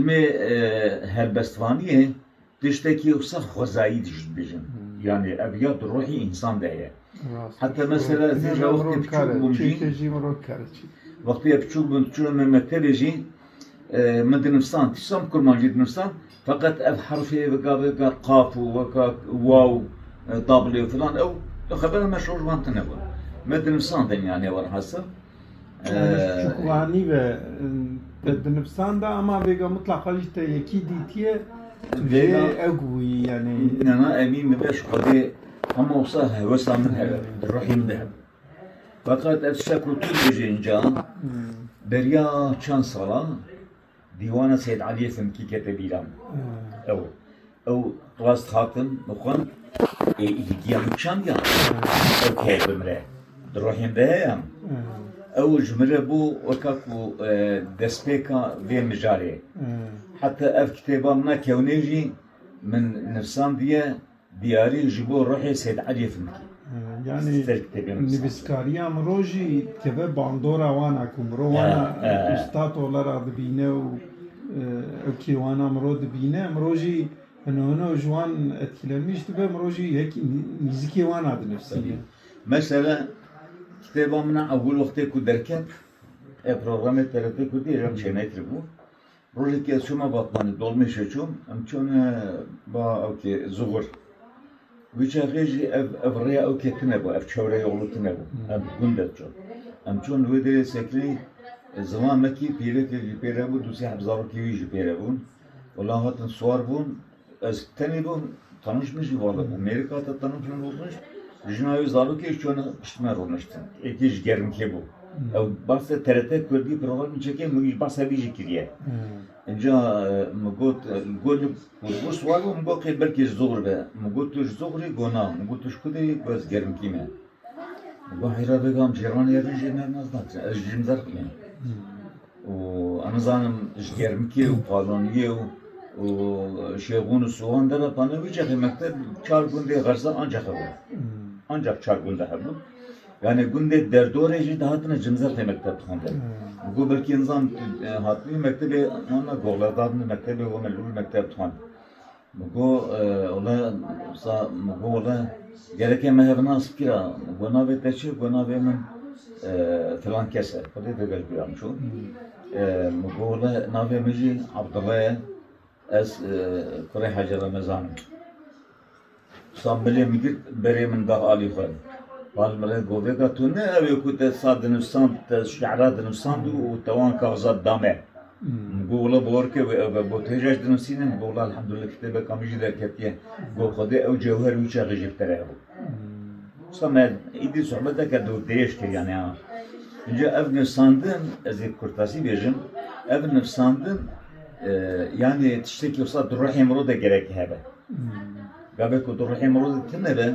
Em ê helbestvaniyê tiştekî ye û sax xwezayî dijî dibêjin. Yanî ev ya di ruhî însan de ye. Heta mesela zî ja wextê piçûk bûm jî, wextê ez piçûk bûm diçûna me mektebê jî min dinivsan, tiştan bi kurmancî dinivsan feqet ev herfê weka weka qaf û weka waw, tabl û filan ew li xebera me şojvan tune bûn. Me dinivsandin ya nêwan hasa. Çukuranî ve te di nivisan de ama vêga mitlaqa jî te yekî dîtiye vêga ew bûyî yanî. Nana emî min de ji Xwedê hema wisa hewesa min hebe di ruhê min de hebe. Feqet ev tişta ku tu dibêjî inca beriya çend salan Dîwana Seyd Eliyê Simkî kete bîran. Ew ew rast hatin mixwend ê îdiya min kişandiyan. Ew keye bimire. Di rohên de heye. Ew ji min re bû weka ku e, destpêka vê mijarê. Heta ev kitêba min a kewnê jî min nivsandiye Diyarî ji bo ruhê Seyd Eliyê fil dike. Yanî nivîskariya miro jî dikive bandora wan a ku miro wan a ustad ola ra dibîne û ew kêwana miro dibîne. Miro jî hino hino ji wan etkilenmîş dibe, miro jî yek nîzikê wan a dinivîsîne. Mesela kitêba min a ewil wextê ku derket, ya programê TRT Kurdî, êrî em çênekiribû. Rojekî ez çûme Batmanê, dolmêşê çûm, em çûne ba ew kê Zuxur. Wî çaxê jî ev ev rêya ew kê tune bû, ev çewre yolu tune bû. Em bi gund de çûn. Em çûn wê derê Sekirî, zilamekî pîrekekî pêre bû, du sê heb zarokê wî jî pêre bûn. Wala hatin siwar bûn, Ez tenê bûm tanişmiş ji vala bûm mêrika te tanişmiş bûmmiş jina wê zarokê çûne piştîme rûniştin êkê ji germkê bû ew bahse TRT Kurdî programê çekê min jî bahsa wî jî kiriye înca min got got li ku siwar bû min got qê belkê ji zoxr be min got tu ji zoxrê got na min got tu ji ku de yî got ez germkî me min got heyra vêga em cîran ye vê jê me nas nakin ez ji jimzer xwînim Û em nizanim ji germikê û palaniyê û û şêxûn û sowan derve pane wî çaxê mekteb çar gundê xerza ancax hebûn. Ancax çar gunde hebûn. Yanê gundê derdorê jî dihatine cimzexê mekteb dixwendin. Go belkî nizanim hatibû mektebê wana goxle dadine mektebê wana li wir mekteb dixwend. Min got wele wisa min got wele gelekê me hev nas kira min got navê te çi ye got navê min filan kes e xwedê digel bîra min çû min got wele navê min jî Abdullah ye ez kurê Hacî Remezan im wisa milê min girt berê min da alî xwe bal min re got vêga tu ne ew ê ku te wisa dinivîsand te şîra dinivîsand û te wan kaxizat da me. Gola Borke wê ew be. Got, Hêja ji dinusînin, Gola Elhamdulillah kitêbeka min jî derketiye. Got, Xwedê ew cewher û çaxê ji bikere evo. Usta me êdî sohbeteke dûr dirêj kir yanî ha. Înca ev nivsandin, ez ê kurtasî bêjim, ev nivsandin yanî tiştekî usta di ruhê mirov de gerek hebe. Gavê ku di ruhê mirov de tune be,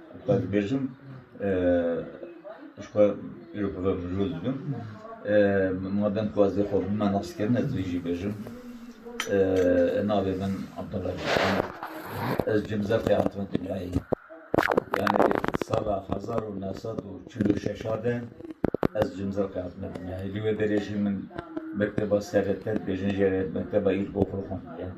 Xwe dibêjim ji xwe îro bi vê mirov dibim. Ma dem ku ez vê xwe bime naskirin ez vê jî bêjim. Navê min Abdullah Cîhan e. Ez ji Mizefê hatime dinyayê. Yanî sala hezar û neh sed û çil û şeşa de ez ji Mizefê hatime dinyayê. Li wê derê jî min mekteba serê te dibêjin jê re mekteba îlkokulê xwendiye.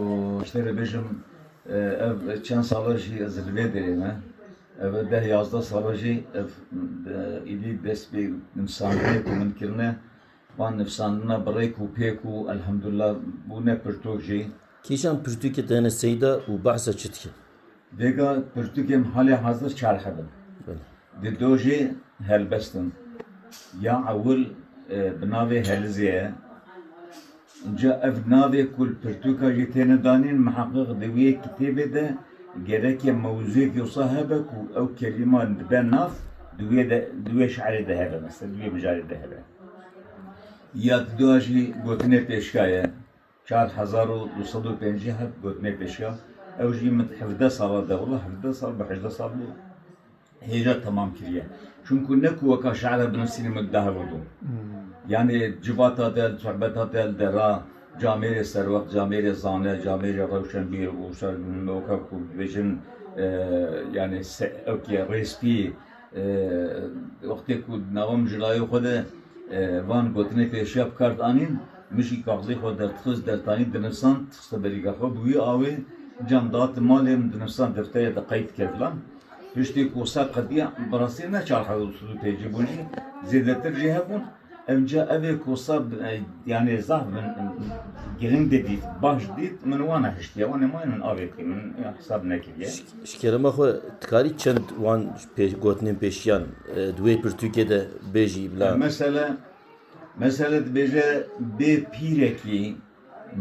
Û ji te re bêjim ev çend sala jî ez li vê derê me, ev e deh yazdeh sala jî ev êdî dest pê nivîsandinê ku min kirine, wan nivîsandina bi rêk û pêk û elhamdulillah bûne pirtûk jî. Kîjan pirtûkê te hene Seyda û behsa çi dike? Vêga pirtûkên halê hazir çar heb in. Di do jê helbest in. Ya ewil bi navê Helizê ye. Înca ev navê ku li pirtûka jê têne danîn miheqiq di wê kitêbê de gereke mewzûyekî wisa hebe ku ew kelîman dibe nav di wê de di wê şerê de hebe mesela di wê mijarê de hebe. Ya di do jî gotinê pêşka ye. Çar hezar û du sed û pêncî hat gotinê pêşiya, ew jî min hevdeh sala de, wila hevdeh sal bi hejdeh sal bû hêja temam kiriye. Çimkû ne ku weka şi'ra binivîsînê min dide hev bû. Yanî civata te, sohbeta te li derra camêrê serwext, camêrê zane, camêrê rewşenbîr û wisa weka ku dibêjin yanî se wekî rêspî, Wextê ku di nava mijilayê xwe de van gotinên pêşiya bi kar dianîn, Mijî kaxizê xwe derdixiz, dertanî, dinivsand, dixiste berîka xwe, bi wî awê ciyan dihatin malê min, dinivsand defterê de qeyd dike filan. Piştî ku ser qediya, bi rastî ne çar hezar û sed û pêncî bûn jî, zêdetir jî hebûn. Ewca ev ê kosa yanê zaf min giring didît, baş didît, min wa nehiştiye, wan ê ma min avê kir, min hesab nekiriye. Ji kerema xwe dikarî çend wan gotinên pêşiyan di wê pirtûkê de bêjî bila. Mesela mesela dibêje bê pîrekî,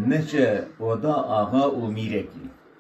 neçe oda axa û mîrekî.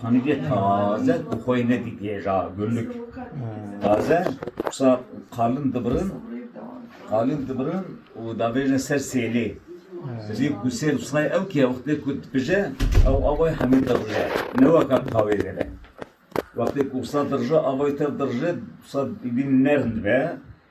Hanîgê taze ku xwe yê nedîtiye ja gurlik taze wisa qalin dibirin qalin dibirin û davêjin ser sêlê. Sêlê ku sêl wisa ew ki wextê ku dipije ew avayê hemî dirije. Ne weka tavê de be. Wextê ku wisa dirije avayê tev dirije wisa bîn nerm dibe.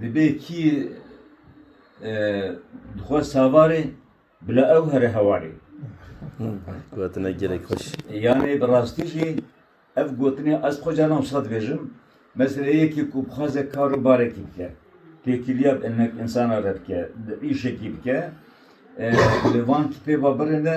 Dibe kî dixwe savarê bila ew here hewarê. Gotina gelek xweş. Yanê bi rastî jî ev gotinê ez xwe caran wisa dibêjim. Mesela yekî ku bixwaze kar û barekî bike, têkiliya bi hinek insana re bike, îşekî bike, li van kitêba birê de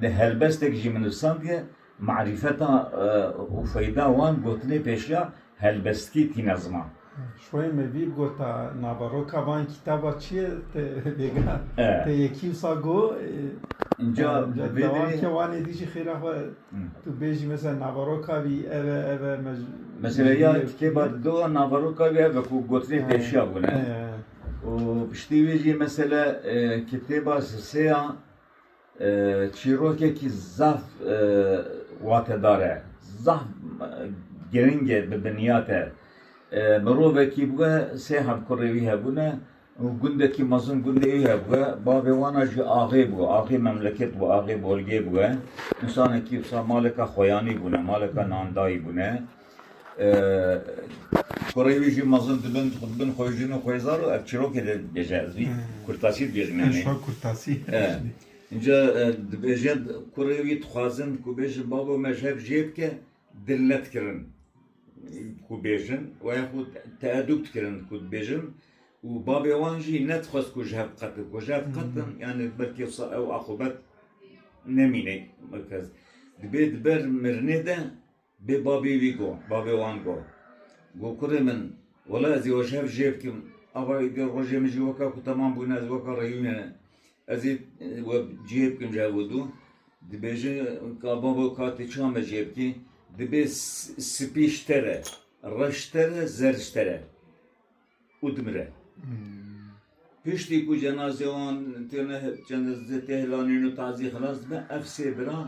Di helbestek jî min nivisandiye, Marîfeta û feyda wan gotinê pêşiya helbestkî tîne ziman. Şoyê me vî gota naveroka van kitaba çi ye te bêga te yekî wisa go. Înca dewam ke wan êdî jî xêra xwe tu bêjî mesela naveroka vî ev e ev e. Mesela ya kitêba di dowa naveroka vî ev e ku gotinê pêşiya bûne û piştî wî jî mesela kitêba sisêya Çîrokekî zaf watedar e, zaf giring e bi biniyat e. Mirovekî bûye, sê hevkurê wî hebûne û gundekî mezin gundê wî hebûye. Bavê wan a jî axê bû, axê memleket bû, axê bolgê bûye. Însanekî wisa maleka xoyanî bûne, maleka nandayî bûne. Kurê wî jî mezin dibin, xwe dibin xwe jin û xwêzar û ev çîrokê dê dibêje. Ez wî kurtasî dibêjim yani. Eşo kurtasî. Înca dibêje kurê wî dixwazin ku bêjin babo me ji hev jê dike dil ne dikirin ku bêjin û xwe teedûb dikirin ku dibêjin û babê wan jî ne dixwest ku ji hev diqetin. Ku ji hev diqetin yani belkî wisa ew aqûbet nemîne. Dibê di ber mirinê de Bê babê wî got, babê wan got, Got kurê min, wela ez ê weş hev jê bikim, ava êdî rojê min jî weka ku temam bûne, ez weka reyûnê ne, ez ê we cihê bikim ji hev û dû. Dibêje ka babo ka tu çiya me cihê bikî, dibê spî ji te re, reş ji te re, zerr ji te re. û dimire. Piştî ku cenaze wan tê hilanîn û tazî xilas dibe, ev sê bira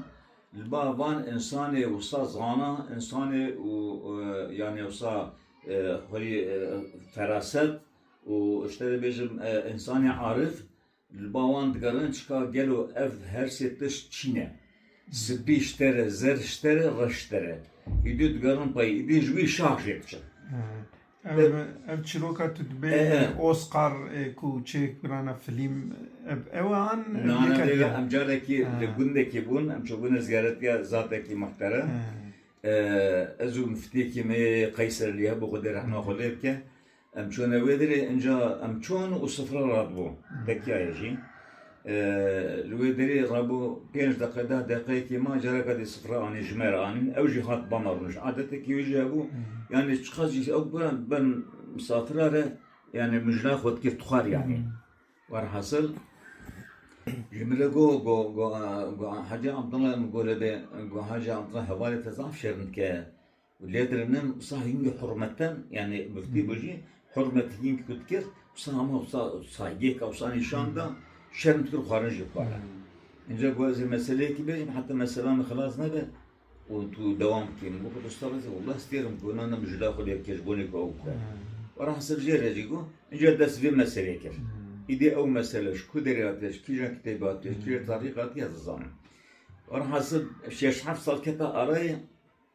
li ba van însanê wisa zana, însanê û yanê wisa xweyî feraset û ji te dibêjim însanê arif Li ba wan digerin çika gelo ev her sê tişt çî ne. Sipî ji te re, zer ji te re, reş ji te re. Îdî digerin pey, îdî ji wî şax jê diçin. Ev çîroka tu dibê Oscar ê ku çêk birana filîm ev ew e an yek e diya? Em carekî li gundekî bûn, em çûbûne ziyaretiya zatekî muhterem. Ez û miftiyekî me yê Qeyserlî hebû Xwedê rehma xwe lê bike. Em çûne wê derê inca em çûn û sifre radibû tekiyayê jî. Li wê derê rabû pênc deqe deh deqeyekî ma careka dê sifre anî ji me re anî ew jî hat ba me rûniş. Adetekî wê jî hebû yanî çiqas jî ew bira ben misafira re yanî min jina xwe dikir tixwar yanî. Werhesil ji min re got got Hecî Abdullah min got lê bê got Hecî Abdullah hevalê te zaf şêrin dike. Lêdil nin wisa hîngî hurmetin yanî muftî bûjî hurmet hîng ku dikir wisa hema wisa saygêka wisa nîşan da şerm dikir û xwarin jî dixwara. Înca ku ez ê meseleyekî bêjim heta mesela min xilas nebe û tu dewam bikî min got usta ez ê wila stêrim ku na na min ji laya xwe lêvkêşbûnê ku ew bike. Were hesib jê re jî got înca dest vê meselê kir. Îdî ew mesele ji ku derê hatiye ji kîjan kitêbê hatiye ji kîjan tarîxê hatiye ez dizanim. Were hesib şeş heft sal kete arayê.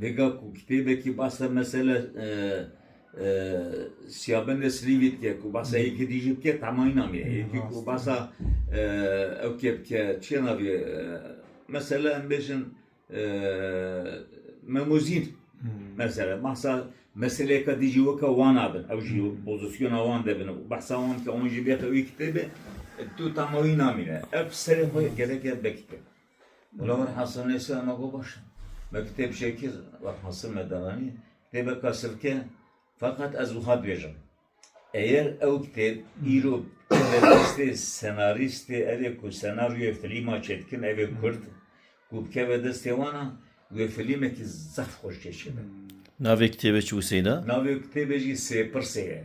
Hêga ku kitêbekî behsa mesela Siyabende Silîngî dike ku behsa yekî dijî dike tema înan e. Yekî ku behsa ew kê dike çiya navê ye mesela em bêjin Memozîn mesela behsa meseleyeke dijî weke wan a bin ew jî pozisyona wan de bin û behsa wan dike wan jî bêxe wî kitêbê tu tema wî namîne. Ev serê xwe gerek e bikite. Mela min Hasan Nêsîra me got baş e. Me kitêb çêk kir, wext Hasan me deranî, kitêbeke silke ye. Feqet ez wiha dibêjim, eger ew kitêb îro bi destê senarîstê evê ku senaryoyê filîma çêdikin evê kurd ku bikeve destê wan a, wê filîmekî zehf xweş cê çêbe. Navê kitêbê çi wiseyda? Navê kitêbê jî Sêpirsê ye.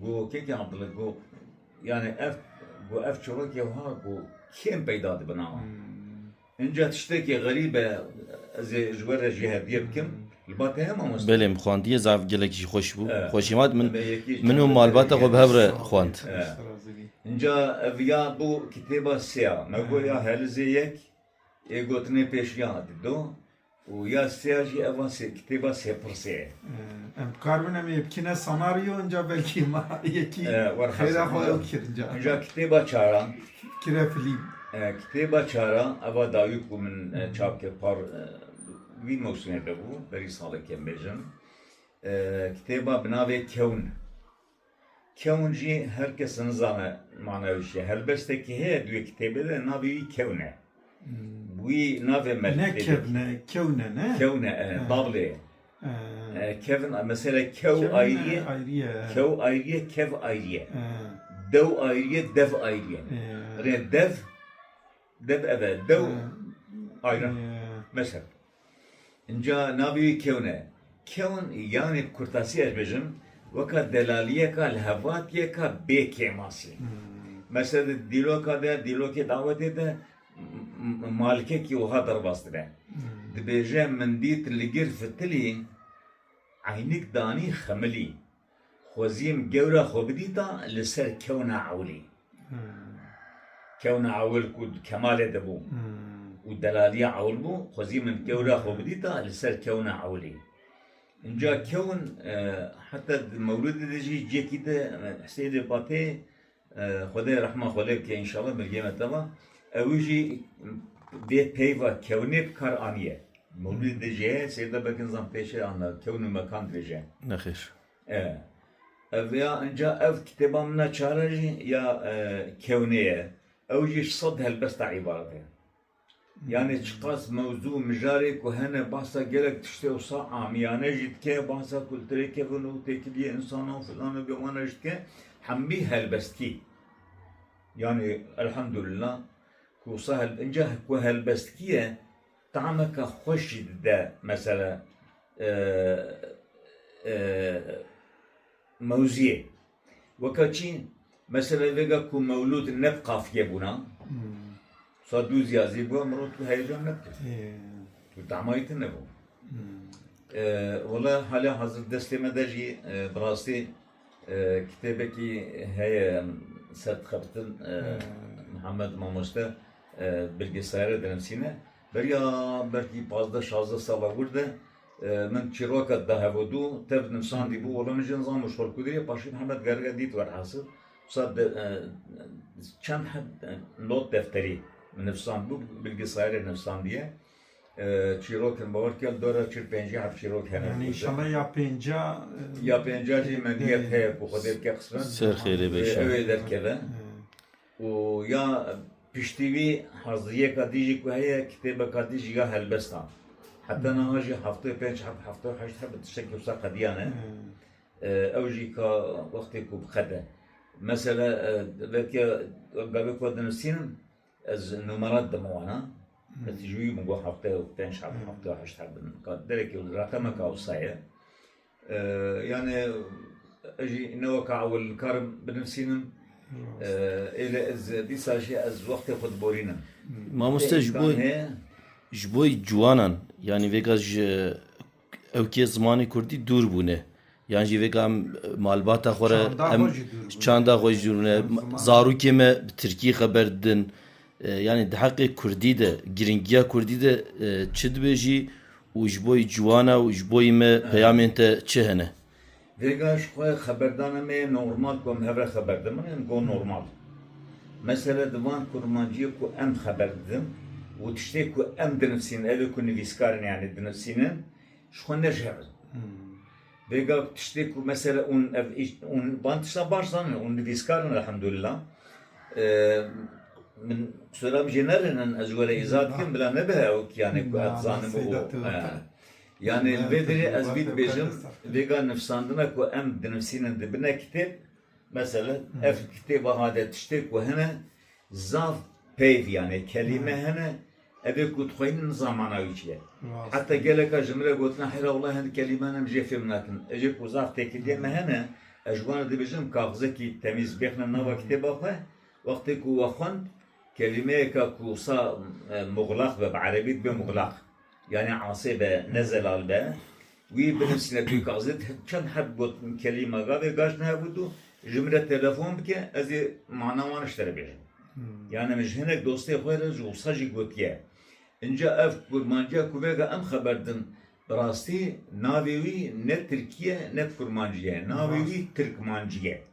Ku kêkê Abdullah ku yanî ev ku ev çolakê wiha ku kêm peyda dibin a. Înca tiştekî xerîb e ez ê ji we re jî hevdî bikim li ba te heye mamoste? Belê min xwandiye zaf gelekî jî xweş bû. Xweşî vat min min û malbata xwe bi hev re xwand. Înca ev ya bo kitêba sê ya me got ya Helizê yek ê gotinê pêş ya dî do. Û ya sêya jî ev a sê kitêba sêpirsê ye. Em dikaribin em ê bikîne senaryo inca belkî ma yekî xêra xwe ew dikir inca. Inca kitêba çar a. Kire filîm. Kitêba çar a ev a dawî ku min çap kir par vî mewsîmê de bû berî salekê em bêjin. Kitêba bi navê Kewn. Kewn jî her kes nizane mana wî çi ye. Helbestekî heye di wê kitêbê de navê wî Kewn e. Wî navê me li kitêbê. Ne kevn e, kewn e ne? Kewn e, e, double ye. Kevn, mesela kew ayrî ye, kew ayrî ye, kev ayrî ye. Dew ayrî ye, dev ayrî ye. Rê dev. Deb ev e dew ayran meşe. Înca navê wî kewn e. Kewn yanê bi kurtasî ez bêjim weka delaliyeka li hevatiyeka bê kêmasî. Meşe di dîloka de, dîlokê dawetê de malikekî wiha derbas dibe. Dibêje min dît li gir fitilî eynik danî xemilî. Xwezîm gewre xwe bidîta li ser kewna ewilî. Kewna ewil ku di Kemalê de bû û delaliya ewil bû, xwezî min gewre xwe bidîta li ser kewna ewilî. Înca kewin heta di Mewlidê de jî ciyekî di Huseyînê Patê Xwedê rehma xwe lê bike înşallah mirgê me teva. Ew jî dê peyva kewnê bi kar aniye. Mewlûdê di jê ye sêda belkin zam pêşê anna kewn û mekan dirêje. Nexêr. E. Ev ya inca ev kitêba min a çar e jî ya kewnê ye. Ew jî ji sed helbesta îbaret e. Yanê çiqas mewzû û mijarê ku hene bahsa gelek tiştê wisa amiyane jî dike, bahsa kulturê kevin û têkiliyê însanan û filan û bimanan jî dike, hemî helbestkî yanê elhamdulillah ku wisa inca ku helbestkî ye tameke xweş jî dide mesela mewziyê. Weka çîn, mesela vêga ku mewlûd neb qafiye bûna, sa dû zîya zî bûya min ro tu heyecan nebikir. Tu damayî te nebû. Wela hala hazir destê me de jî bi rastî kitêbekî heye ser dixebitin Mihemed Mamoste bilgisayere dinivîsîne. Beriya belkî pazdeh şazdeh sala wir de Min çîroka di hev û du tev nivîsandî bû, wela min jî nizan min ji xwe li ku dîye, paşê Mihemed Gerge dît werhesil wisa çend not defterî min nivîsand bû, bilgisayarê nivîsandiye çîrokên min bawer bike li dora çil pêncî hev çîrok hene. Yanî înşallah ya pênca ya pênca jî me nîyet heye ku Xwedê bike qismet ew ê derkeve. Û ya piştî wî haziyeka dî jî ku heye kitêbeka dî jî ya helbest a. Heta niha jî hevto û pênc heb, hevto û heşt heb bi tiştekî wisa qediya ne. Ew jî ka wextê ku biqede. Mesela veke gavê ku dinivîsînim ez numerat dima wana. Ez tijî wî bûm ku hevto û pênc heb, hevto û heşt heb bin. Ka derekî reqemeka wisa ye. Yanê ez jî ne weka ewil nikarim binivîsînim. Êlê ez dîsa jî ez wextê xwe diborînim. Mamoste ji bo ji bo ciwanan yanî vêga ji ewkê zimanê kurdî dûr bûne. Yan jî vêga em malbata xwe re em çanda xwe jî dûr bûne. Zarokê me bi tirkî xeber didin. Yanî di heqê kurdî de, girîngiya kurdî de çi dibêjî û ji bo ciwan e û ji bo me peyamên te çi hene? Vêga ji xwe xeberdana me yê normal ku em hev re xeber didin. Min got normal. Mesele di van kurmanciyê ku em xeber didin û tiştê ku em dinivîsînin, evê ku nivîskarin yanî dinivîsînin ji xwe nejihebin. Bêga ku tiştê ku mesele hûn ev hûn van tiştan baş zanin, hûn nivîskar in elhamdulillah. Min soran jê nerinin ez ji we re îza dikim bila nebihe ew kiyanê ku ez dizanim û yanê li vê derê ez vî dibêjim vêga nivîsandina ku em dinivîsînin di bine kitêb mesele ev kitêba hade tiştê ku hene zaf peyv yanê kelîme hene Ev ê ku dixwînin niza mana wî çi ye. Heta geleka ji min re gotin heyra walayi hindik kelîman em jê fêm nakin. Ev ê ku zaf têkiliyên me hene ez ji wan re dibêjim kaxizekî temîz bêxne nava kitêba xwe. Wextê ku we xwend kelîmeyeka ku wisa muxlaq be bi erebî dibe muxlaq yanî asê be ne zelal be. Wî binivîsîne dûka zêde di çend heb got min kelîma gavê gaş nehebû tu ji min re telefon bike ez ê mana wan ji te re bêjim. Yani min ji hinek dostê xwe re ji wisa jî gotiye. Înca ev kurmanciya ku vega em xeber din bi rastî navê wî ne tirkî ye ne kurmancî ye. Navê wî tirkmancî ye.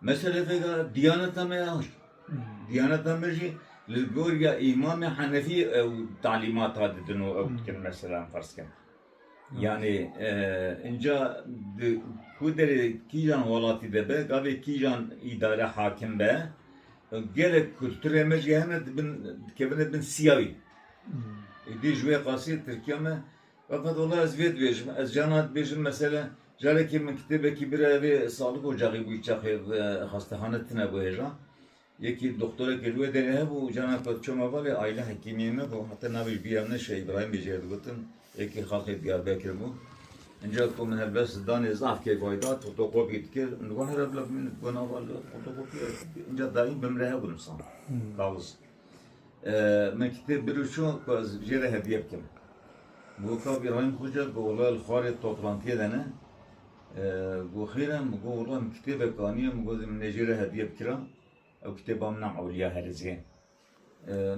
Me şerefeke diyaneta me ya hişt. Diyaneta me jî li gorîya îmamê henefî ew talîmata didin û ew dikin meselan ferz ke yanî înca di ku derê kîjan welatî de be gavê kîjan îdare hakim be gelek kulturê me jî hene dibin dikevine bin sîyayî. Îdî ji wê qasî Tirkiya me Refetullah ez vê dibêjim, ez carna dibêjim mesele carekê min kitêbekî bira vê salik ocaxî bû çaxê xastehane tune bû hêja. Yekî doxtorekî li wê derê hebû û carna ku ez çûm hevalê aîle hekîmiyê me bû heta navê ji bîr ya min e Şeh Îbrahîm bê jê re digotin yekî xaxê Diyarbekir bû. Înca ku min helbest danê zaf keyf ay dat fotokopî dikir min digot here bila bimîne digot nava li fotokopiya înca dayîn bi min re hebû nimsan kaxiz. Min kitêb binûşo ku ez jê re hediye bikim. Min got kak Îbrahîm Xoca ku wila li xwarê toplantiyê de ne. Min got xêr e, min got wila min kitêbek aniye, min got min ê jê re hediye bikira. Ew kitêba min a Ewliya Herêzê ye.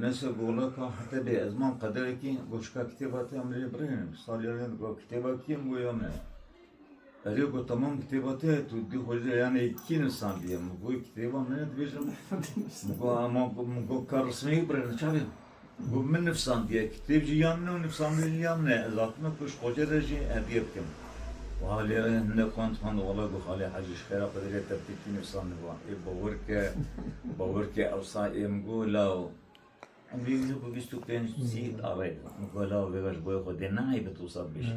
Neyse got wila ka hete bê ez mam qederekê. Got şika kitêba te ya min rê birêne. Min salî ya rê min got kitêba kî ye? Min got ya min e. Ez ê ku temam kitêba te ye, tu dê xwe ji yanê kî nivîsandiye? Min got kitêba min e dibêjim. Min got a ma min got ka rismeyî birevin çavê. Min got min nivîsandiye, kitêb jî ya min e û nivîsandin jî ya min e. Ez hatime ku ji xwecê re jî hediye bikim. Wiha lê hinde xwend xwend û wela got Xalê Hecî ji xêra xwe derê te ti kî nivîsandiba? Ê bawer ke bawer ke ewsa ê min got la Îngilîzî bi bîst û pênc nusî arê. Min ku lava vêga ji boyê xwe dê neheybin tu wisa bibêjî.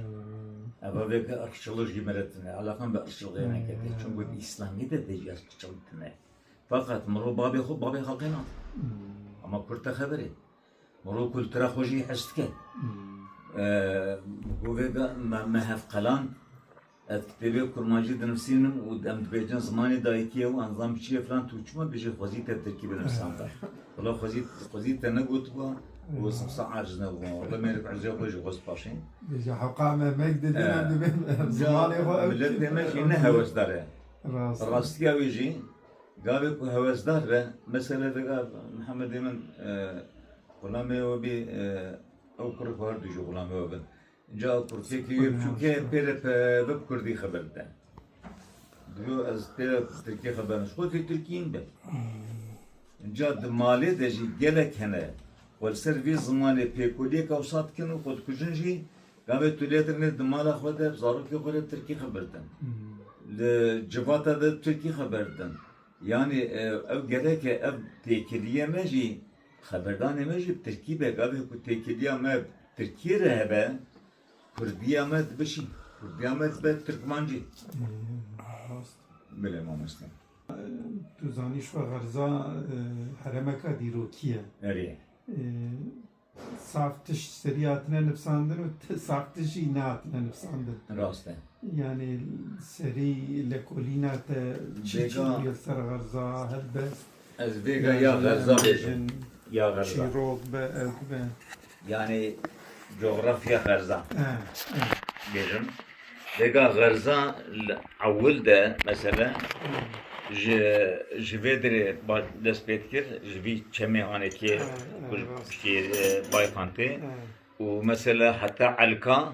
Ev vê ki irqçillik jî min re tune ye. Eleqa min bi irqçiliqê neketê. Çimku di îslamiyê de tê jî irqçilik tune ye. Feqet mirov bavê xwe bavê xelkê nake. Hema kurd te xeber e. Mirov kultura xwe jî hişt dike. Min ku vêga me hevqeland Ez kitêbê kurmancî dinivsînim û em dibêjin zimanê dayikî ye û an ziman biçîk e filan tu çima tu jî xwezî te tirkî binivisanda? Wala xwezî xwezî te negotibûa û ez hewsa aciz nebûma. Wala mêrik ecrê xwe jî xwest paşê. Bêje heqa me mek didin em dibên zimanê xwe ew Miletê me jî ne hewesdar e. Rastiya wî jî gavê ku hewesdar be mesele vega Mihemedê min xulamê we bî ew kurê xwe her du jî xulamê we bin. Ca kursiyekî wê biçûk e pê re bi kurdî xeber bide. Dilo ez pê re bi tirkî xeber nadim. Ji xwe tê tirkî in be. Ca di malê de jî gelek hene xwe li ser vê zimanê pêkoliyeke wisa dikin û xwe dikujin jî gavê tu lê dirinê di mala xwe de bi zarokê xwe re tirkî xeber didin. Li civata de bi tirkî xeber didin. Yanî ew gerek e ev têkiliye me jî Xeberdanê me jî bi tirkî be, gavê ku têkiliya me bi tirkî re hebe, kurdiya me dibişî, kurdiya me dibe tirkmancî. Bilê mamoste. Tu zanî şo xerza heremeka dîrokî ye. Erê. Saf tişt serî hatine nivsandin û saf tişt jî nehatine nivsandin. Rast e. Yanî serî lekolîna te çi çi bûye li ser xerza, helbest. Ez bêga ya xerza bêjim. Ya xerza. Çîrok be, ew be. Yani coğrafya xerza. Bêjim. Bêga xerza li ewil de mesela ji ji vê dirê dest pê dikir, ji vî çemê hanekê piştî bayxan tê. Û mesela heta elka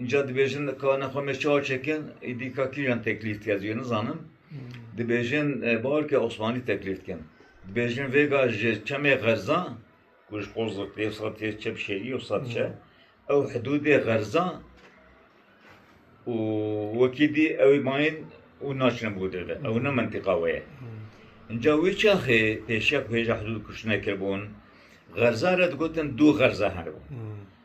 Înca dibêjin ka ne xwe me çawa çekin, îdî ka kîjan teklîf dike ez jê nizanim. Dibêjin bawer ke osmanî teklîf dikin. Dibêjin vêga ji çemê xerza ku ji Qozixê yê sed yê çep şêrî yê sed çe ew hidûdê xerza û wekî dî ew ê mayîn û naçine bo derve. Ew ne mentiqa we ye. Înca wî çaxê pêşiya ku hêja hidûd kuştinê kiribûn, xerza re digotin du xerza heribûn.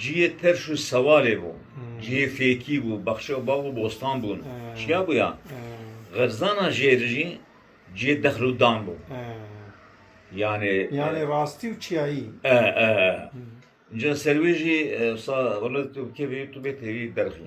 Cihê terş û sewalê bû. Cihê fêkî bû, bexçe û bav û bostan bûn. Çiya bûya? Xerzana jê re jî cihê dexl û dan bû. Yanê. Yanê rastî û çiyayî. E, e, e. Înca ser wê jî wisa tu bi kêfê tu bê têrî derxî.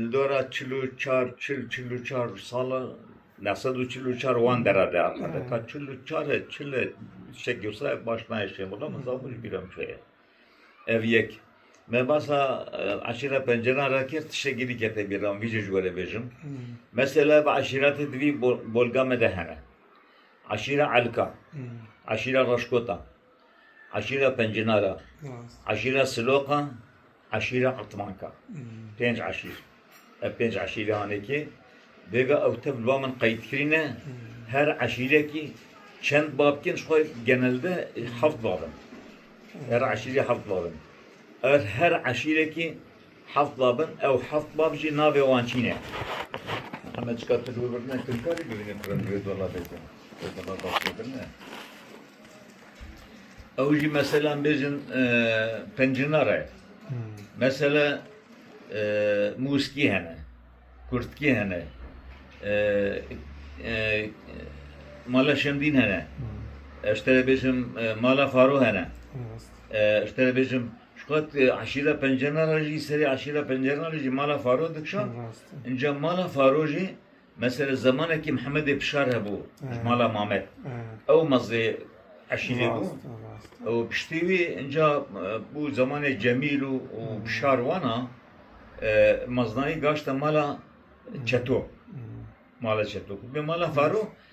Li dora çil û çar çil çil û çar sala ne sed û çil û çar wan dera de axade ka çil û çar e çil e şe girsa baş nayê şê wala min zabû ji bîra min şeye ev yek me basa eşîra penceran re kir tişe girî kete bîra min vî jê ji we re bêjim mesela ev eşîratê di vî bolga me de hene eşîra elka eşîra raşkota Eşîra Pencinara, Eşîra Siloqa, Eşîra Etmanka. Pênc eşîr. Ev pênc eşîrê hane kê. Bêga ew tev li ba min qeyd kirîne. Her eşîrekî çend bab kirin ji xwe genelde heft bab in. Her eşîrê heft bab in. Ev her eşîrekî heft bab in. Ew heft bab jî navê wan çîn e. Heme çika tu li wir birine kirkarî bibînî ku re li wê dolabê de. Wê dolaba xwe birine. Ew jî meselan bêjin pencinar e. Mesela mûskî hene, kurtkî hene, mala şemdîn hene. Ez te bêjim mala faro hene. Ez te bêjim Şukat aşîra pencenara jî serê aşîra pencenara jî mala faro dikişan. Înca mala faro jî Mesela zemanekî Mihemedê Pişar hebû ji mala Mamed, ew mezê eşîrê bû û piştî wî inca bû zemanê Cemîl û Pişar wan a, meznayî gaşte mala Çeto, mala Çeto ku bê mala Faro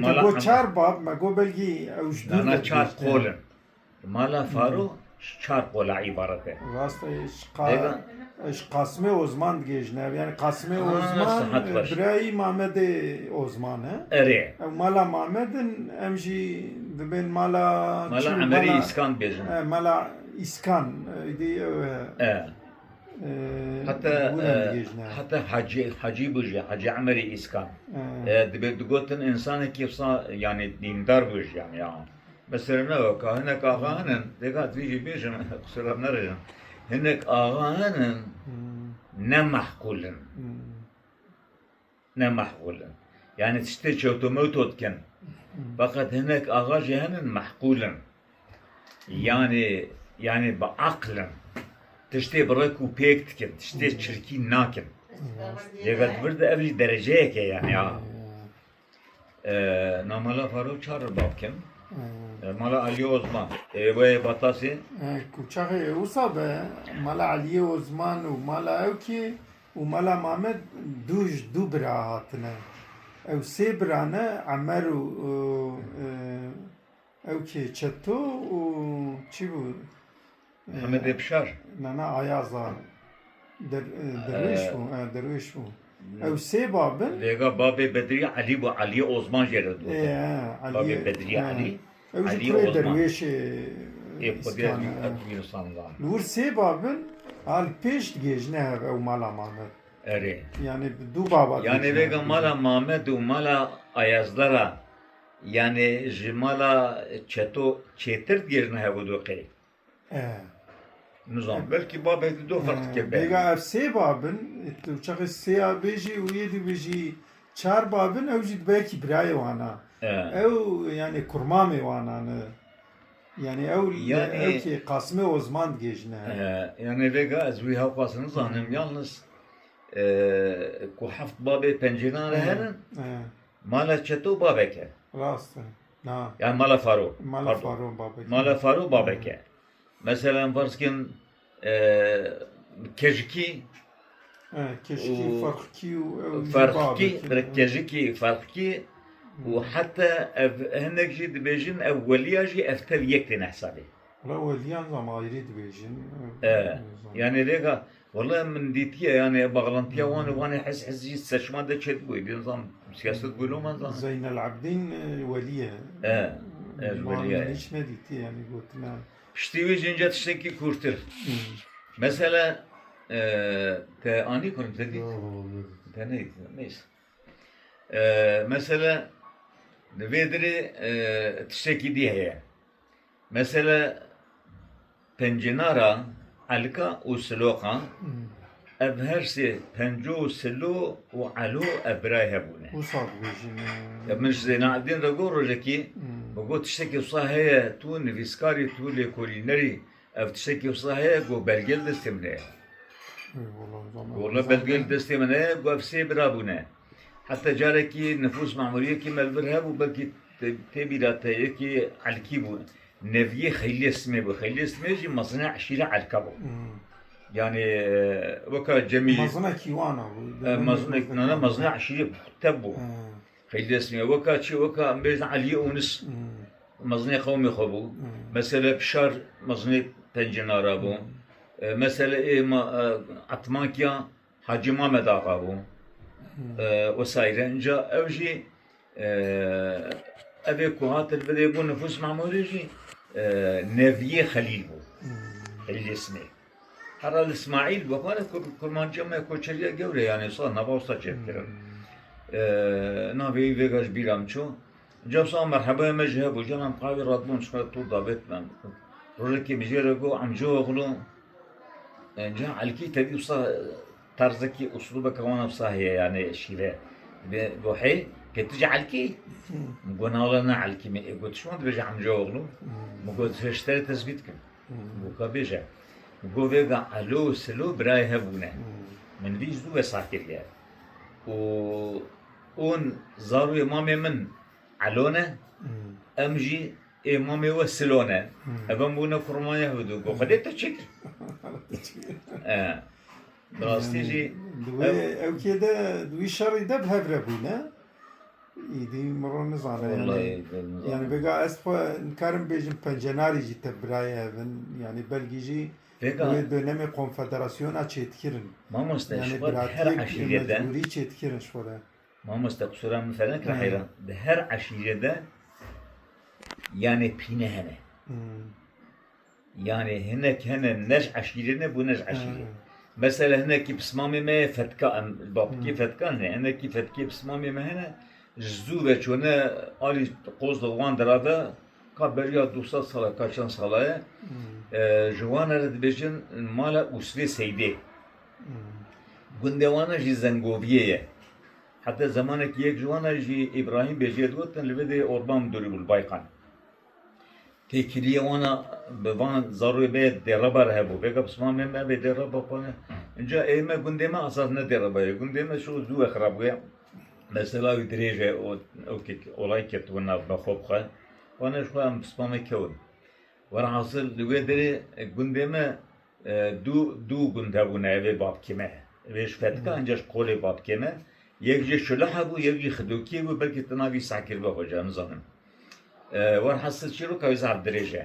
Mala Hema. Çar bab me got belgî ew ji dûr Dana çar qol in. Mala Faro ji çar qola îbaret e. Rast e Dega. Ji Qasimê Ozman digihêjin ev yani Qasimê Ozman sihet baş. birayî Mamedê Ozman e. Erê. Ew mala Mamed in em jî dibên mala Mala Emerî Îskan dibêjin. Mala Îskan êdî ew e. Heta heta hecî hecî bû jî hecî Emerî Îskan dibê digotin însanekî wisa yanî dîndar bû jî yanî ya. Mesela ne weka hinek axa hinin dêka divê jî bêjin qisêra nerijin. Hinek axa hinin ne mehkûl in. Ne mehqûl in. Yanî tiştê çewtomewto dikin. Feqet hinek axa jî henin mehqûl in. Yanî yanî bi aql in. Tiştê bi rek û pêk dikin. Tiştê çirkî nakin. Lê ve di vir de ev jî dereceyek e yanî a. Na mala Farûk çar ribav kin. Mala Aliyê Ozman. Ê wê Batasê? Kuçaxê wisa be mala Aliyê Ozman û mala ew kî Û Mala Mamed dû ji dû bira hatine. Ew sê bira ne Emer û ew kê Çeto û çi bû? Hemedê Pişar? Na na Ayaza. Der, derwêş bû, e, derwêş bû. Ew sê babin. Lêga babê Bedrî Elî bû, Elî Osman jê re dibû. Ê, e, Elî. Babê Bedrî Elî. Ew jî kurê derwêşê îskan e. Li wir sê bab in a li pêş digihêjine hev ew mala Mamed. Erê. Yanê bi du baba digihêjine. Yanê vêga mala Mamed û mala Ayazdara yanê ji mala Çeto çêtir digihêjine hev û du qey. Nizam belkî babê di do ferq dike bê. Bêga ev sê bab in tu çaxê sê ya bêjî û yê dî bêjî çar bab in ew jî di belkî birayê wan a. Ew yanê kurmamê wan a ne. Yanê ew ew kê Qasimê Osman digêjine. Yanê vêga ez wî hewqas nizanim yalnis ku heft babê pencênan re herin mala çeto babek e. Rast e. Yani mala faro. Mala faro babek. Mala faro babek e. Mesela farz kin kejikî kejikî farqkî û farqkî kejikî farqkî û heta ev hinek jî dibêjin ev weliya jî ev tev yek têne hesabê. Weliyan zam ayrî dibêjin. Yani rêga Wala min dîtiye yanê baxlantiya wan û vanê hez hez jî seçma de çêdibûyê dê nizam siyaset bûyê lo man zanê. Zeynel Abdîn Welî ye. E, ez Welî ye. Wan min hiç nedîtiye yanî gotine. Piştî wî jî ince tiştekî kûrtir. Mesele te anî ku te dît? Te nedît. Neyse. Mesele di vê dirê tiştekî dî heye. Mesele pencênara elka û siloqa, ev her sê penco, silo û elo ev birayê hev bûne. Wisa dibêjin? Ya min ji Zênaedîn re got rojekî, min got tiştekî wisa heye, tu nivîskar î, tu lêkolîner î, ev tiştekî wisa heye, got belge li destê min heye. Got belge li destê min heye, got ev sê bira bûne. Heta carekî nifûs mamuriyekî me li vir hebû, belkî tê bîra te yekî elkî bû. Neviyê Xeyliyê Simê bû. Xeyliyê Simê jî mezina eşîra elka bû. Yanî weka cemî Mezina kîwan a bû? Mezina na na mezina eşîrê te bû. Xeyliyê Simê weka çi weka em bêjin Eliyê Ûnis mezinê qewmê xwe bû. Mesele Pişar mezinê Pencinara bû. Mesele ê ma Etmankiya Hacî Mamed Axa bû wesayîre. Înca ew jî evê ku hatin bilê bû Nifûs Memûrî jî neviyê Xelîl bû. Xelîlê Simê. Hera li Smaîl bû. Xwara kurmanciya me koçeriya gewre yanê sal nava wisa çêdikirin. Navê wî vêga ji bîra min çû. Cewsa merhebaya me jî hebû. Canan qavî radibûn çikare tûr davêt min. Rojekê mijêre got Emcîoglû ca elkî tevî wisa terzekî uslûbeke wana wisa heye yanê şîre bê got hey kê tu ji elkî? Min got nala ne elkî me ê got çima dibêje Emcîoglû? Min got ji şîrê tesbît kim. Min got ka bêje. Min got vêga elo û selo birayê hebûne. Min vî ji dû wesar kiriye û Hûn zarûyê mamê min Elo ne, em jî ê mamê we Silo ne. Ev em bûne ku Rûmanya hûdû ku Xwedê te çi kir? Bi rastî jî Di wê ewkê de, di wî şerî de bi hev re bûne. Îdî miron nizane yanî. Wellahî vê min Yanî zanî. vêga ez xwe nikarim bêjim pencenarî jî tevbirayê hev in. Yanî belkî jî Vêga. Wê dönemê konfederasyona çêdkirin. Mamoste, ji xwe di her eşîrê de. Mecbûrî çêdkirin ji xwe de. Mamoste, qisûra min ser nekire heyran. Di her eşîrê de yanê pîne hene. Yanê hinek hene ne ji eşîrê ne bû ne ji eşîrê. Mesela hinekî bi simamê me yê fetka em li Babikê fetkan hene. Hinekî fetkê bi simamê me hene. Ji zû ve çûne alî Qozlê wan dira ve. Ka beriya du sed sal e ka çend sal e ji wan re dibêjin mala Usvê Seydê. Gundê wan e jî Zengoviyê ye. Heta zemanekî yek ji wan e jî Îbrahîm Bêjiyê digotin li vê dê Orban Midûrî bû li Baykan. Têkiliyê wan a bi van zarokê bê Dêreba re hebû. Vêga bi siman mêr nabê Dêreba xwe ne. Înca ê me gundê me esas ne Dêreba ye. Gundê me şo zû ye xirab bûye. Mesela wî dirêj e û wekî olay ketibû nav me xwe bi xwe wan ji xwe em bi spanê kewin. Welhasil li wê derê gundê me dû dû gund hebûne ev ê babkê me ye. Ev ê ji Fetika încî ji Qolê babkê me yek jî Şuliha bû yek jî Xidokiyê bû belkî tu navî Sakir be xweca nizanim. Welhasil çîroka wî zaf dirêj e.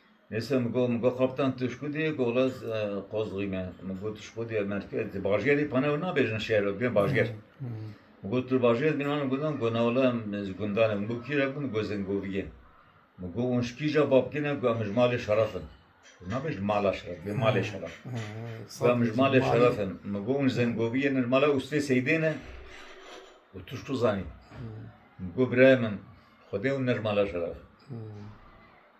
Neyse min got, min got Kaptan tu ji ku diyê? Got wele ez Qozxîm e. Min got tu ji ku diyê? Merkez di bajêrê pana ew nabêjin şer ew dibêjin bajêr. Min got tu li bajêr dibîn wan gundan? Got na wele em ji gundan e. Min got kî re bû? Min got Zingoviyê. Min got hûn ji kîja bapkê ne? Got em ji malê şeref in. Got nabêjin mala şeref dibê malê şeref. Got em ji malê şeref in. Min got hûn ji Zingoviyê ne ji mala Ustê Seydê ne? Got tu ji ku zanî? Min got birayê min xwedê hûn ne ji mala şeref in.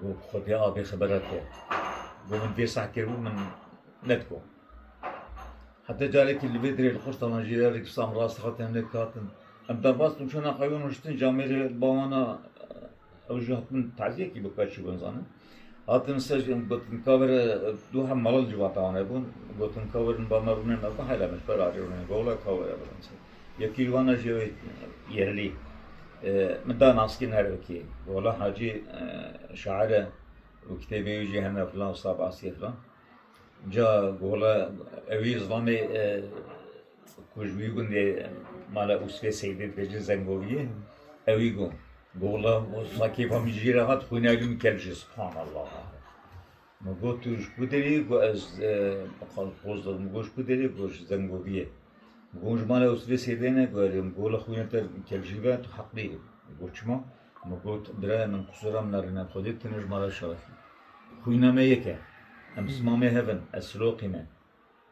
Got, Xwedê a bê xebera te, got min vê sehkir bû min nedgo. Heta carekî li vê dirê li Xurtana jî re rikirsa em rast hat em lê dihatin. Em derbas bin çûna qeyon hiştin ji Amêrê li ba wan a ew jî hatibin taziyekî bike çi bû nizanim. Hatin ser jî em gotin ka were du hem mala li civata wan hebûn, gotin ka werin ba me rûnin me got heyl em ji ber arê rûnin, got wela ka were birin ser. Yekî li wana jê wê yerlî min da naskî her wekî wala hacî şair e û kitêbê wî jî hene filan wisa basî ye filan. Ca gola ewî zilamê ku ji wî gundê mala Usfê Seydê dike cin Zengoviyê ewî got. Gola wisa kêfa min jî re hat xwîna li min kel jî subhanallah. Min got tu ji ku derê yî? Got ez Qozlê min got ji ku derê yî? Got ji Zengoziyê. Min got hûn ji malê Ewsilê sêdêne? Got erê min got wila xwîna te kevjî be tu heqlî yî. Min got çima? Min got birayê min qusura min a rîna xwedê tune ji mala Şerefî. Xwîna me yek e. Em simamê hev in. Ez siloqî me.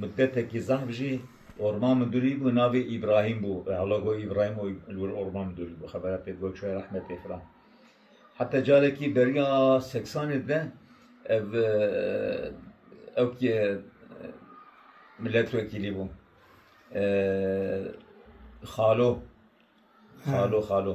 Muddetekî zehf jî orman midûrî bû navê Îbrahîm bû hela got Îbrahîm û li wir orman midûrî bû xebera pê got çûye rehmetê filan. Heta carekî beriya seksanê de ev ewk yê miletwekîlî bû. Xalo xalo xalo.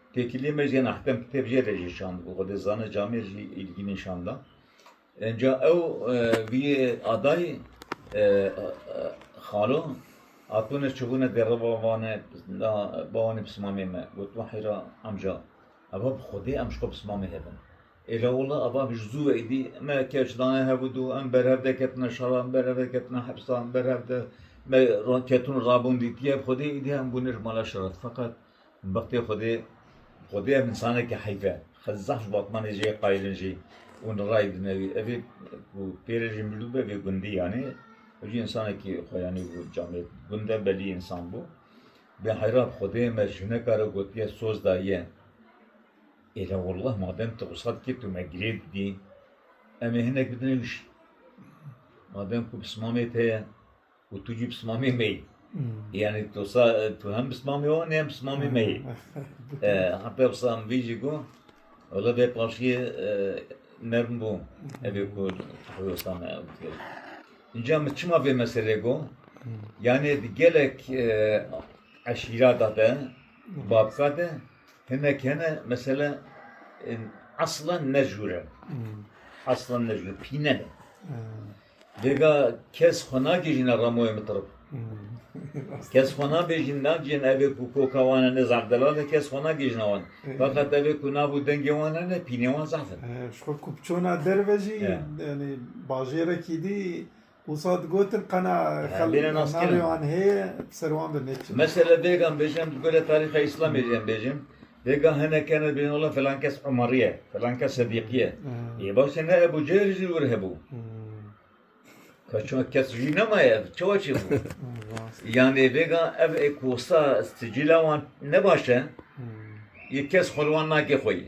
Têkiliyê me jê nehtem kitêb jê re jî şand û Xwedê Zane Camê jî îlgînî şanda. Înca ew vî yê adayî xalo hatûne çûbûne dê re bavane na bawanê pismamê me got ma heyra emca eva bi Xwedê em ji xwe pismamê hebin. Êla wila eva bi ji zû ve êdî me keç dane hev û dû em berhev de ketine şara em berhev de ketine hepsa em berhev de me ketin û rabûn dîtiye bi Xwedê êdî em bûne ji mala şeref feqet Bixtê Xwedê, Xwedê em insanekî heyf e. Xwe zaf ji batmanê jê yê qayil in jî û nirayî dine wî. Evê ku pê re jî mirdû be vê gundî yanî ew jî insanekî xwe yanî bû camê gund e belî însan bû. Bê heyran Xwedê me jineka re gotiye soz daye. Êla wallah madem tu wisa dikî tu me girê didî. Em ê hinek bidin wî jî. Madem ku bi simamê te ye. û tu jî bi simamê me yî. Yani tu sa tu hem bi simamê wan hem bi simamê me yî. Heta bi sam vî jî got Ola vê paşiyê nerm bû evê ku Hewsan kir. Înca min çima vê meselê got yani di gelek eşîrata de babka de hinek hene mesela aslan ne jûre. Aslan ne jûre pîne ne. Dêga kes xwe nakijîne ramoyê min tirib. Kes xwe nabêjin nakijîne evê ku koka wan e ne zehf delal e kes xwe nakijîne wan. Feqet evê ku nav û dengê wan hene pînê wan zehf in. Ji xwe ku çûna derve jî yanî bajêrekî dî wisa digotin qena navê wan heye bi ser wan ve neçin. Mesela dêga em bêjin em di gorî tarîxa îslamê jî em bêjin Bêga hinek hene dibêjin wela filan kes Umarî ye, filan kes Sedîqî ye. Yê baş de ne Ebû Cehl jî li wir hebû. Ka çima kes jî nemaye ev çawa çêbû? Yanê bêga ev ê kosta sicîla wan ne baş e, yê kes xwe li wan nake xwe yê.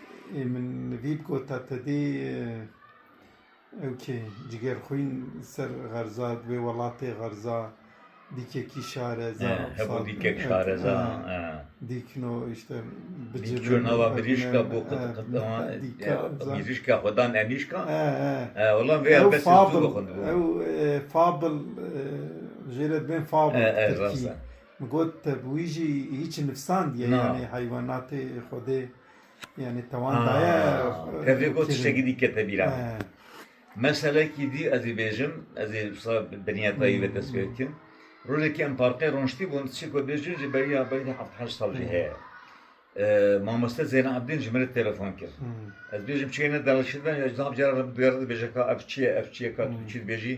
Ê min vî bi gota te dê ew kê cigêr xwîn ser xerza di wê welatê xerza dîkekî şareza hebo dîkek şareza dîkno işte bicî nava mirîşka bo mirîşka xwedan enîşka wala vê ev fabl ew fabl jê re bên fabl tirkî got te bi wî jî hiç nifsandiye yanê heywanatê xwedê Yani tewan daye. Tevê got tiştekî dî kete bîra. Meselekî dî ez ê bêjim, ez ê wisa binîya dayî ve dest pê bikim. Rojekî em parkê roniştî bûn, çî ku bêjin ji beriya belê dî heft heşt sal jî heye. Mamoste Zeyna Ebdîn ji min re telefon kir. Ez bêjim çiyê ne delal şidin, ji nav cara re bi duyar re dibêje ka ev çi ye, ev çi ye ka tu çi dibêjî,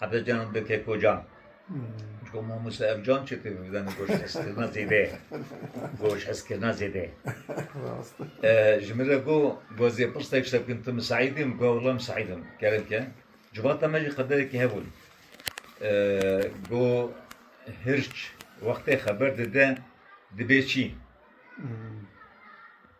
Hebe can bi keko can. Çiko mamoste ev can çi pê bidene goş heskirina zêde. Goş heskirina zêde. Ji min re got gwazê pirstek şte bikin tu min Seîd î min got wila min Seîd im. Kerem ke. Civata me jî qederekî hebûn. Got hirç wextê xeber dide dibê çî.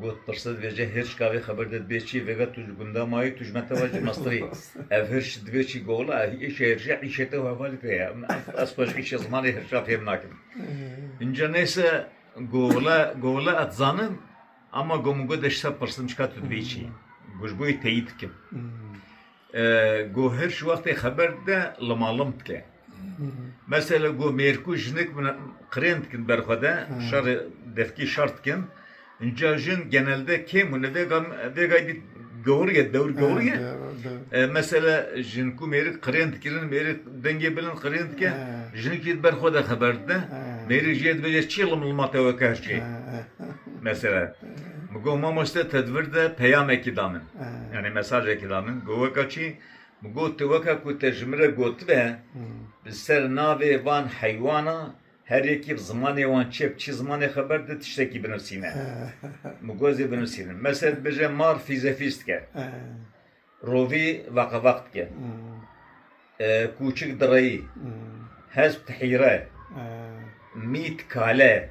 Got, Pirsê divê ji hirç ka vê xeber de dibê çi? Vêga tu ji gunda mayî, tu ji me tewa ji Misrî. Ev hirç divê çi? Gola, Îşê hirçê îşê te û hevalê te ye. Ez xwe ji îşê zimanê hirça fêm nakim. Înca neyse Gola, Gola ez dizanim ama go min got ez ji te pirsim çika tu divê çi? Go ji bo wê teyîd bikim. Go her ji wextê xeber dide limalim dike. Mesela go mêrku jinik qirên dikin ber xwe de şerê devkî şer dikin. Înca jin genelde kêm hûn e vêgay dît gehuriye dewr gehuriye. Mesela jin ku mêrik qirên dikirin mêrik dengê bilind qirên dike jinik jî ber xwe de xeber dide. Mêrik jê dibêje çi lim lima te weke her çê. Mesela min got mamoste te di vir de peyamekî da min. Yanî mesajekî da min bi weka çi min got tu weka ku te ji min re gotibe bi ser navê van heywana her yekî bi zimanê wan çi ye bi çi zimanê xeber di tiştekî binusîne. Min got ez ê binusînim. Mesel dibêje mar fîzefîz dike. Rovî veqeveq dike. Kûçik direyî. Hesp tihîre. Mît kale.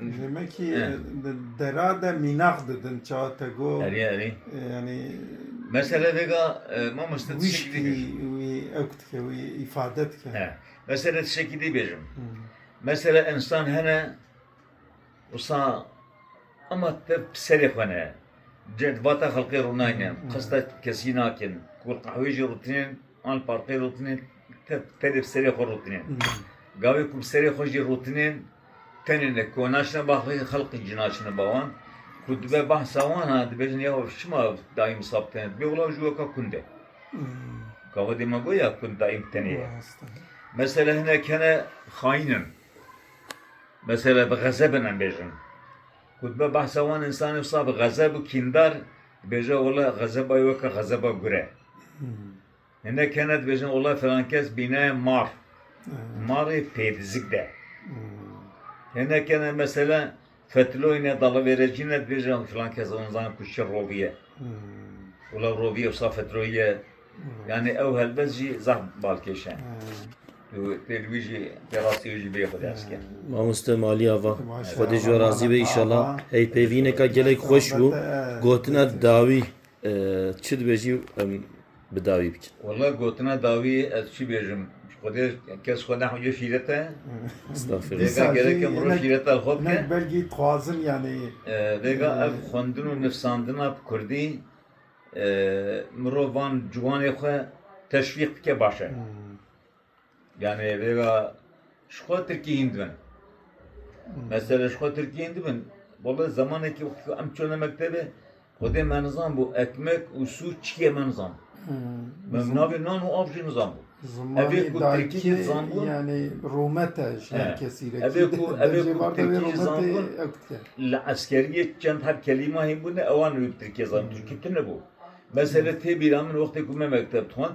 Hêmekî dera de mînax didin çawa te got. Erê erê. Yanî Mesela vêga mamoste tişekî dî wî ew dike wî îfade dike. He. Mesela tişekî dî bêjim. Mesela insan hene wisa ama te serê xwe ne. Vata xelqê rûnayne. Qesta kesî nakin. Ku qehwê jî rûtinên an parqê rûtinên te tedê bi serê xwe rûtinên. Gavê ku bi serê xwe jî rûtinên Tenê ne ku naçine ba xwe xelqî jî naçine ba wan. Ku dibe behsa wan a dibêjin ya ev çima daîm sab tene dibê wila ji we ka kund e. Ka xwedê me goy ya kund daîm tenê ye. Mesela hinek hene xayîn in. Mesela bi xezeb in em bêjin. Ku dibe behsa wan însan wisa bi xezeb û kîndar dibêje wila xezeba wê weke xezeba gure. Hinek hene dibêjin olay filan kes bîne mar. Marê pêdizik de. Hinek hene mesela fetiloyne dalıvêrecîne dibêjin filan kes on zan ku şir roviye. Ola roviye wisa fetiloyiye. Yani ew helbet jî zaf balkêş e. Tu tê li wî jî tê rastî wî jî bê xwe ders ke. Mamoste Malî Ava, Xwedê ji we razî be îşallah. Hey pêvîneka gelek xweş bû. Gotina dawî çi dibêjî em bi dawî bikin. Walla gotina dawî ez çi bêjim ji Xwedê kes xwe nexwîce şîret e. Vêga gereke mirov şîreta xwe bike. Hinek belgî dixwazin yanî. Vêga ev xwendin û nivsandina bi kurdî mirov van ciwanê xwe teşwîq bike baş e. Yanî vêga ji xwe tirkî hîn dibin. Mesela ji xwe tirkî hîn dibin. Wele zemanekî wextî ku em çûne mektebê xwedê me nizanbû ekmek û sûc çi ye me nizanbû. Min bi navê nan û av jî nizanbû. Evê ku tirkî jî dizanbû. Yanî rûmet e ji her kesî re. Evê ku evê ku tirkî jî dizanbûn li eskeriyê çend heb kelîma hîn bûne ewan wê bi tirkî zanîn. Tirkî tune bû. Mesela tê bîra min wextê ku me mekteb dixwend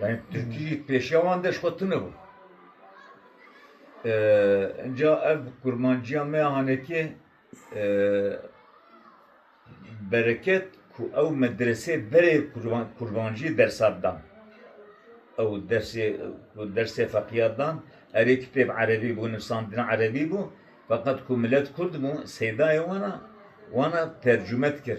Yanî Tirkî jî pêşiya wan de ji xwe tune bû. Înca ev kurmanciya me ya hanekê bereket ku ew medresê berê kurmancî dersat dan. Ew dersê ku dersê feqîyat dan erê kitêb erebî bû, nivsandina erebî bû. Feqet ku milet kurd bû, seydayê wan a, wan a tercume dikir.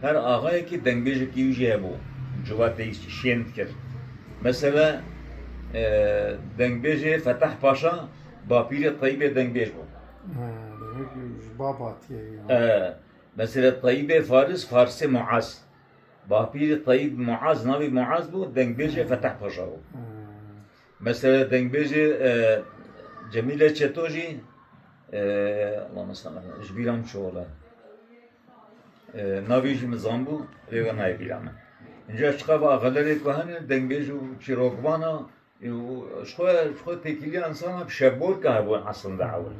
Her axayekî dengbêjekî wî jî hebû ciwateyî şên dikir. Mesele dengbêjê Fetah Paşa bapîrê Teyîbê dengbêj bû. Ji babatiyê ye. Mesele Teyîbê Faris Farisê Muaz. Bapîrê Teyîb Muaz navê Muaz bû dengbêjê Fetah Paşa bû. Mesele dengbêjê Cemîle Çeto jî Allahûme salli ala ji bîra min çû wele. Navê jî min zanbû rêya nayê bîra min. Înca ji qefa xelerê ku hene dengbêj û çîrokvan a ji xwe ji xwe têkiliya insana bi şevborka hebûn eslinde ew e.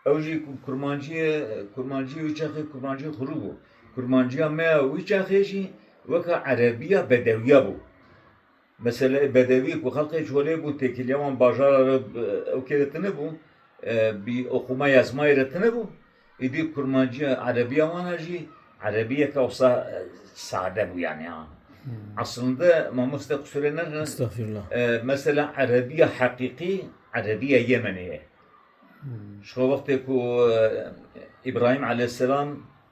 Ew jî ku kurmancî ye kurmancî wî çaxê kurmancî xurû bû. Kurmanciya me ya wî çaxê jî weke erebîya bedewîya bû. Meseleyê bedewî ku xelkê çolê bû têkiliya wan bajara re ewkê re tune bû, bi oxûma yezmayê re tune bû. Îdî kurmanciya erebiya wan a jî erebiyeke wisa sade bû yanî a. Eslinde mamoste qisûrê neke mesela erebiya heqîqî erebiya Yemenê ye. Ji xwe wextê ku Îbrahîm eleyhîsselam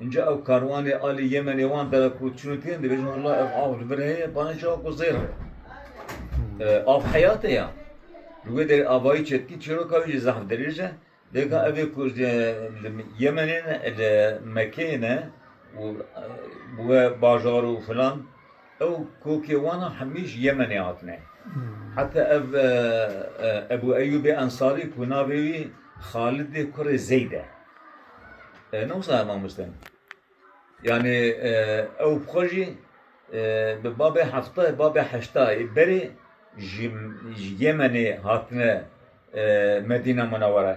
Înca ew karwanê alî Yemenê wan dere ku çûnê têne dibêjin wela ev av li vir heye bane çawa ku zêr e. Av heyatê ya. Li wê derê avayî çetkî çîroka wî jî zehf dirêj e. Dêka evê ku li Yemenê ne li Mekeyê ne û bi we bajar û filan Ew kokê wan a hemî ji Yemenê hatine. Heta ev Ebû Eyûbê Ensarî ku navê wî Xalidê kurê Zeyd e. Ne wisa mamoste in. Yanî ew bi xwe jî bi babê hefta yê babê heşta yê berê ji Yemenê hatine Medîna Munewwere.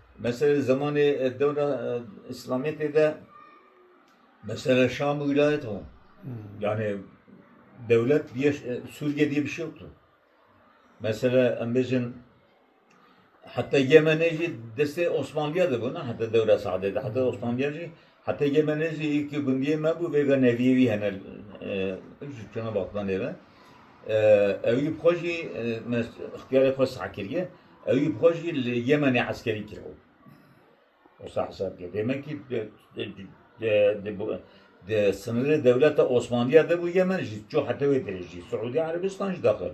Mesela li zemanê dewra îslamîtê de mesela Şam wîlayet bû. Yani dewlet diye Sûriye diye bir şey yoktu. Mesela em bêjin heta Yemenê jî destê Osmanliye de bû ne heta dewra Seedê de heta Osmanliye jî Hetê menê jî yekî gundiyê me bû vêga neviyê wî hene ji çûna Balkanê re. Ewî bi xwe jî me ixtiyarê xwe sah kiriye. Ewî bi xwe jî li Yemenê eskerî kiribû. Wisa hesab ke demekî di sinirê dewleta Osmaniya de bû Yemen jî çû heta wê dirêjî. Siûdî Erebistan jî daxil.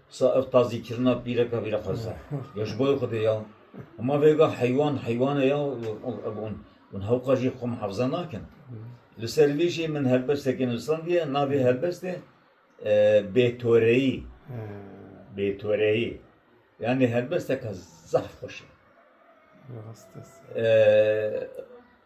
Sa ev tazî kirina pîreka vîr e xweza. Ya ji boyê xwedê ya. Hema vêga heywan heywane ya û hewqa jî xwe mihafza nakin. Li ser vê jî min helbesteke nivîsandiye, navê helbestê Bêtoreyî. Bêtoreyî. Yanî helbesteke zaf xweş e.